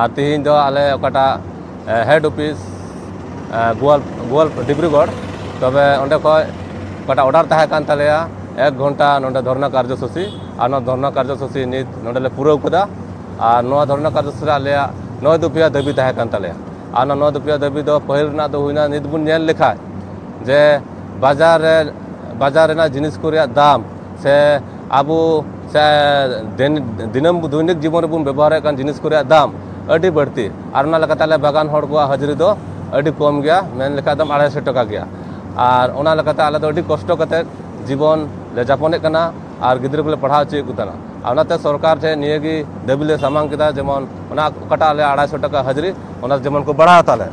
ᱟᱨ ᱛᱤᱦᱤᱧ ᱫᱚ ᱟᱞᱮ ᱚᱠᱟᱴᱟᱜ ᱦᱮᱰ ᱚᱯᱷᱤᱥ ᱜᱳᱣᱟᱞ ᱜᱳᱣᱟᱞ ᱰᱤᱵᱽᱨᱩᱜᱚᱲ ᱛᱚᱵᱮ ᱚᱸᱰᱮ ᱠᱷᱚᱡ ᱚᱠᱟᱴᱟᱜ ᱚᱰᱟᱨ ᱛᱟᱦᱮᱸ ᱠᱟᱱ ᱛᱟᱞᱮᱭᱟ ᱮᱠ ᱜᱷᱚᱱᱴᱟ ᱱᱚᱰᱮ ᱫᱷᱚᱨᱱᱟ ᱠᱟᱨᱡᱚᱥᱩᱪᱤ ᱟᱨ ᱱᱚᱣᱟ ᱫᱷᱚᱨᱱᱟ ᱠᱟᱨᱡᱚᱥᱩᱪᱤ ᱱᱤᱛ ᱱᱚᱰᱮᱞᱮ ᱯᱩᱨᱟᱹᱣ ᱠᱮᱫᱟ ᱟᱨ ᱱᱚᱣᱟ ᱫᱷᱚᱨᱱᱟ ᱠᱟᱨᱡᱚᱥᱩᱪᱤ ᱨᱮ ᱟᱞᱮᱭᱟᱜ ᱱᱚᱭ ᱫᱚᱯᱷᱤᱭᱟ ᱫᱟᱹᱵᱤ ᱛᱟᱦᱮᱸ ᱠᱟᱱ ᱛᱟᱞᱮᱭᱟ ᱟᱨ ᱚᱱᱟ ᱱᱚᱭ ᱫᱚᱯᱷᱤᱭᱟ ᱫᱟᱹᱵᱤ ᱫᱚ ᱯᱟᱹᱦᱤᱞ ᱨᱮᱱᱟᱜ ᱫᱚ ᱦᱩᱭᱱᱟ ᱱᱤᱛ ᱵᱚᱱ ᱧᱮᱞ ᱞᱮᱠᱷᱟᱡ ᱡᱮ ᱵᱟᱡᱟᱨ ᱨᱮ ᱵᱟᱡᱟᱨ ᱨᱮᱱᱟᱜ ᱡᱤᱱᱤᱥ ᱠᱚ ᱨᱮᱭᱟᱜ ᱫᱟᱢ ᱥᱮ ᱟᱵᱚ ᱥᱮ ᱫᱤᱱᱟᱹᱢ ᱫᱚᱭᱱᱤᱠ ᱡᱤᱵᱚᱱ ᱨᱮᱵᱚᱱ ᱵᱮᱵᱚᱦᱟᱨᱮᱫ ᱠᱟᱱ ᱡᱤᱱᱤᱥ ᱠᱚ ᱨᱮᱭᱟᱜ ᱫᱟᱢ ᱟᱹᱰᱤ ᱵᱟᱹᱲᱛᱤ ᱟᱨ ᱚᱱᱟ ᱞᱮᱠᱟᱛᱮ ᱟᱞᱮ ᱵᱟᱜᱟᱱ ᱦᱚᱲ ᱠᱚᱣᱟᱜ ᱦᱟᱹᱡᱨᱤ ᱫᱚ ᱟᱹᱰᱤ ᱠᱚᱢ ᱜᱮᱭᱟ ᱢᱮᱱ ᱞᱮᱠᱷᱟᱱ ᱫᱚ ᱟᱲᱟᱭ ᱥᱚ ᱴᱟᱠᱟ ᱜᱮᱭᱟ ᱟᱨ ᱚᱱᱟ ᱞᱮᱠᱟᱛᱮ ᱟᱞᱮ ᱫᱚ ᱟᱹᱰᱤ ᱠᱚᱥᱴᱚ ᱠᱟᱛᱮ ᱡᱤᱵᱚᱱ ᱞᱮ ᱡᱟᱯᱚᱱᱮᱫ ᱠᱟᱱᱟ ᱟᱨ ᱜᱤᱫᱽᱨᱟᱹ ᱠᱚᱞᱮ ᱯᱟᱲᱦᱟᱣ ᱦᱚᱪᱚᱭᱮᱫ ᱠᱚ ᱛᱟᱦᱮᱱᱟ ᱟᱨ ᱚᱱᱟᱛᱮ ᱥᱚᱨᱠᱟᱨ ᱴᱷᱮᱱ ᱱᱤᱭᱟᱹ ᱜᱮ ᱫᱟᱹᱵᱤ ᱞᱮ ᱥᱟᱢᱟᱝ ᱠᱮᱫᱟ ᱡᱮᱢᱚᱱ ᱚᱱᱟ ᱚᱠᱟᱴᱟᱜ ᱟᱞᱮ ᱟᱲᱟᱭ ᱥᱚ ᱴᱟᱠᱟ ᱦᱟᱹᱡᱨᱤ ᱚᱱᱟ ᱡᱮᱢᱚᱱ ᱠᱚ ᱵᱟᱲᱦᱟᱣ ᱛᱟᱞᱮ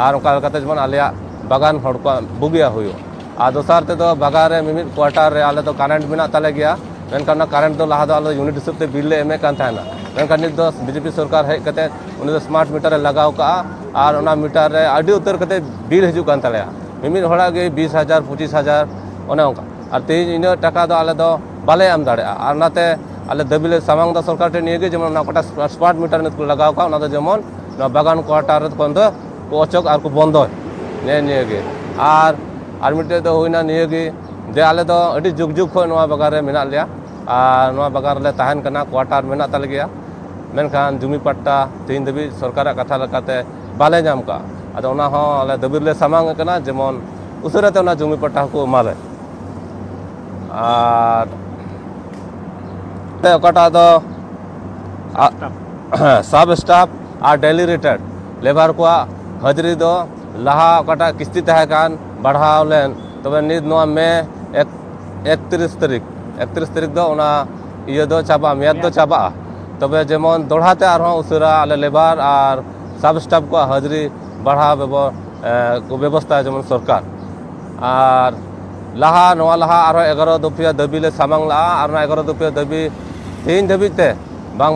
ᱟᱨ ᱚᱱᱠᱟ ᱞᱮᱠᱟᱛᱮ ᱡᱮᱢᱚᱱ ᱟᱞᱮᱭᱟᱜ ᱵᱟᱜᱟᱱ ᱦᱚᱲ ᱠᱚᱣᱟᱜ ᱵᱩᱜᱤᱭᱟᱜ ᱦᱩᱭᱩᱜ ᱟᱨ ᱫᱚᱥᱟᱨ ᱛᱮᱫᱚ ᱵᱟᱜᱟᱱ ᱨᱮ ᱢᱤᱢᱤᱫ ᱠᱣᱟᱴᱟᱨ ᱨᱮ ᱟᱞᱮ ᱫᱚ ᱠᱟᱨᱮᱱᱴ ᱢᱮᱱᱟᱜ ᱛᱟᱞᱮ ᱜᱮᱭᱟ ᱢᱮᱱᱠᱷᱟᱱ ᱚᱱᱟ ᱠᱟᱨᱮᱱᱴ ᱫᱚ ᱞᱟᱦᱟ ᱫᱚ ᱟᱞᱮ ᱭᱩᱱᱤᱴ ᱦᱤᱥᱟᱹᱵ ᱛᱮ ᱵᱤᱞ ᱞᱮ ᱮᱢᱮᱫ ᱠᱟᱱ ᱛᱟᱦᱮᱱᱟ ᱢᱮᱱᱠᱷᱟᱱ ᱱᱤᱛ ᱫᱚ ᱵᱤᱡᱮᱯᱤ ᱥᱚᱨᱠᱟᱨ ᱦᱮᱡ ᱠᱟᱛᱮ ᱩᱱᱤ ᱫᱚ ᱥᱢᱟᱨᱴ ᱢᱤᱴᱟᱨ ᱮ ᱞᱟᱜᱟᱣ ᱠᱟᱜᱼᱟ ᱟᱨ ᱚᱱᱟ ᱢᱤᱴᱟᱨ ᱨᱮ ᱟᱹᱰᱤ ᱩᱛᱟᱹᱨ ᱠᱟᱛᱮ ᱵᱤᱞ ᱦᱤᱡᱩᱜ ᱠᱟᱱ ᱛᱟᱞᱮᱭᱟ ᱢᱤᱢᱤᱫ ᱦᱚᱲᱟᱜ ᱜᱮ ᱵᱤᱥ ᱦᱟᱡᱟᱨ ᱯᱚᱸᱪᱤᱥ ᱦᱟᱡᱟᱨ ᱚᱱᱮ ᱚᱱᱠᱟ ᱟᱨ ᱛᱮᱦᱮᱧ ᱤᱱᱟᱹᱜ ᱴᱟᱠᱟ ᱫᱚ ᱟᱞᱮ ᱫᱚ ᱵᱟᱞᱮ ᱮᱢ ᱫᱟᱲᱮᱭᱟᱜᱼᱟ ᱟᱨ ᱚᱱᱟᱛᱮ ᱟᱞᱮ ᱫᱟᱹᱵᱤ ᱞᱮ ᱥᱟᱢᱟᱝ ᱮᱫᱟ ᱥᱚᱨᱠᱟᱨ ᱴᱷᱮᱱ ᱱᱤᱭᱟᱹ ᱜᱮ ᱡᱮᱢᱚᱱ ᱚᱱᱟ ᱚᱠᱟᱴᱟᱜ ᱥᱢᱟᱨᱴ ᱢᱤᱴᱟᱨ ᱱᱤᱛ ᱠᱚ ᱞᱟᱜᱟᱣ ᱠᱟᱜ ᱚᱱᱟ ᱫᱚ ᱡᱮᱢᱚᱱ ᱱᱚᱣᱟ ᱵᱟᱜᱟᱱ ᱠᱣᱟᱴᱟᱨ ᱠᱷᱚᱱ ᱫᱚ ᱠᱚ ᱚᱪᱚᱜ ᱟᱨ ᱠᱚ ᱵᱚᱱᱫᱚᱭ ᱱᱮᱜᱼᱮ ᱱᱤᱭᱟᱹ ᱜᱮ ᱟᱨ ᱟᱨ ᱢᱤᱫᱴᱮᱡ ᱫᱚ ᱦᱩᱭᱱᱟ ᱱᱤᱭᱟᱹ ᱜᱮ ᱡᱮ ᱟᱞᱮ ᱫᱚ ᱟᱹᱰᱤ ᱡᱩᱜᱽ ᱡᱩᱜᱽ ᱠᱷᱚᱱ ᱱᱚᱣᱟ ᱵᱟᱜᱟᱱ ᱨᱮ ᱢᱮᱱᱟᱜ ᱞᱮᱭᱟ ᱟᱨ ᱱᱚᱣᱟ ᱵᱟᱜᱟᱱ ᱨᱮᱞᱮ ᱛᱟᱦᱮᱱ ᱠᱟᱱᱟ ᱠᱚᱣᱟᱴᱟᱨ ᱢᱮᱱᱟᱜ ᱛᱟᱞᱮ ᱜᱮᱭᱟ ᱢᱮᱱᱠᱷᱟᱱ ᱡᱩᱢᱤ ᱯᱟᱴᱴᱟ ᱛᱮᱦᱤᱧ ᱫᱷᱟᱹᱵᱤᱡ ᱥᱚᱨᱠᱟᱨᱟᱜ ᱠᱟᱛᱷᱟ ᱞᱮᱠᱟᱛᱮ ᱵᱟᱞᱮ ᱧᱟᱢ ᱠᱟᱜᱼᱟ ᱟᱫᱚ ᱚᱱᱟ ᱦᱚᱸ ᱟᱞᱮ ᱫᱟᱹᱵᱤ ᱨᱮᱞᱮ ᱥᱟᱢᱟᱝ ᱟᱠᱟᱱᱟ ᱡᱮᱢᱚᱱ ᱩᱥᱟᱹᱨᱟ ᱛᱮ ᱚᱱᱟ ᱡᱩᱢᱤ ᱯᱟᱴᱴᱟ ᱦᱚᱸᱠᱚ ᱮᱢᱟᱞᱮ ᱟᱨ ᱚᱠᱟᱴᱟᱜ ᱫᱚ ᱥᱟᱵ ᱥᱴᱟᱯ ᱟᱨ ᱰᱮᱞᱤ ᱨᱤᱴᱟᱨᱰ ᱞᱮᱵᱟᱨ ᱠᱚᱣᱟᱜ ᱦᱟᱹᱡᱨᱤ ᱫᱚ ᱞᱟᱦᱟ ᱚᱠᱟᱴᱟᱜ ᱠᱤᱥᱛᱤ ᱛᱟᱦᱮᱸ ᱠᱟᱱ ᱵᱟᱲᱦᱟᱣ ᱞᱮᱱ ᱛᱚᱵᱮ ᱱᱤᱛ ᱱᱚᱣᱟ ᱢᱮ ᱮᱠ ᱮᱠᱛᱨᱤᱥ ᱛᱟᱹᱨᱤᱠᱷ ᱮᱠᱛᱨᱤᱥ ᱛᱟᱹᱨᱤᱠᱷ ᱫᱚ ᱚᱱᱟ ᱤᱭᱟᱹ ᱫᱚ ᱪᱟᱵᱟᱜᱼᱟ ᱢᱮᱭᱟᱫ ᱫᱚ ᱪᱟᱵᱟᱜᱼᱟ ᱛᱚᱵᱮ ᱡᱮᱢᱚᱱ ᱫᱚᱲᱦᱟ ᱛᱮ ᱟᱨᱦᱚᱸ ᱩᱥᱟᱹᱨᱟ ᱟᱞᱮ ᱞᱮᱵᱟᱨ ᱟᱨ ᱥᱟᱵ ᱥᱴᱟᱯᱷ ᱠᱚᱣᱟᱜ ᱦᱟᱹᱡᱨᱤ ᱵᱟᱲᱦᱟᱣ ᱵᱮᱵᱚ ᱠᱚ ᱵᱮᱵᱚᱥᱛᱷᱟ ᱡᱮᱢᱚᱱ ᱥᱚᱨᱠᱟᱨ ᱟᱨ ᱞᱟᱦᱟ ᱱᱚᱣᱟ ᱞᱟᱦᱟ ᱟᱨᱦᱚᱸ ᱮᱜᱟᱨᱚ ᱫᱚᱯᱷᱤᱭᱟ ᱫᱟᱹᱵᱤ ᱞᱮ ᱥᱟᱢᱟᱝ ᱞᱟᱜᱼᱟ ᱟᱨ ᱚᱱᱟ ᱮᱜᱟᱨᱚ ᱫᱚᱯᱷᱤᱭᱟ ᱫᱟᱹᱵᱤ ᱛᱮᱦᱮᱧ ᱫᱷᱟᱹᱵᱤᱡ ᱛᱮ ᱵᱟᱝ